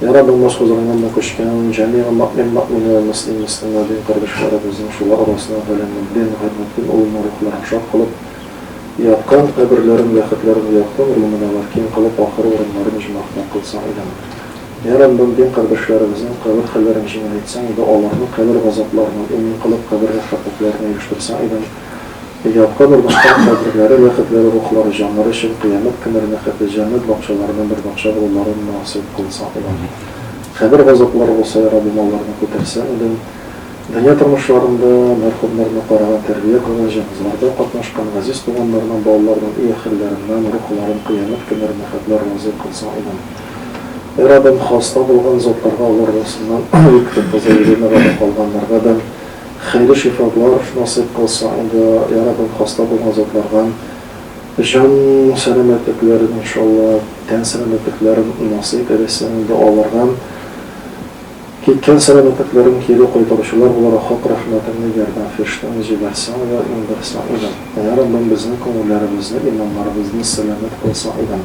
Яра булмас хозурыңа мул күчкән ул, Җәмигъ Мөэмин Мөэмин улы Мөслим Мөслим Мөэмин кардәшләребезнең шулар арасына Галәмөддин Гыйматдин улына рухларын шат кылып яткан, каберләрен бәхетләрен яткын рулы мөнәвәр киң кылып ахыр урыннарын иҗмахтан кылсаң иде аны. Яра Мөэмин кардәшләребезнең кабер хәлләрен җиңеләйтсәң иде, аларны кабер газапларыннан эмин кылып кабер рәхәтлекләренә ирештерсәң иде аны. Ятка бармаска каберләре, ләхетләре, рухлары, җаннары өчен кыямәт көне рнәхәтле җәннәт бакчаларыннан бер бакча булуларын насыйп кылса алар. Кабер газаплары булса ярар булмау ларны күтәрсәң иде. Дөнья тормышларында мәрхүмнәрне караган, тәрбия кылган, җеназаларда катнашкан, газиз туганнарның, балаларның и ахирләреннән рух ларын кыямәт көне рнәхәтләр разый кылсаң идем. Эй Раббем, хаста булган затларга алар русыннан үк, тем более Еленага да калганнарга да, Хәйре шифалар насыйп кылсын инде я Раббым хаста булган затларга җан сәламәтлекләрен иншалла тән сәламәтлекләрен насыйп эйләсен инде аларга киткән сәламәтлекләрен кире кайтаручылар буларак хак рәхмәтеңне ярдәм фирештәңне җибәрсәң дә иңдерсәң идем я Раббым безнең күңелләребезне иманнарыбызны сәламәт кылсаң идем.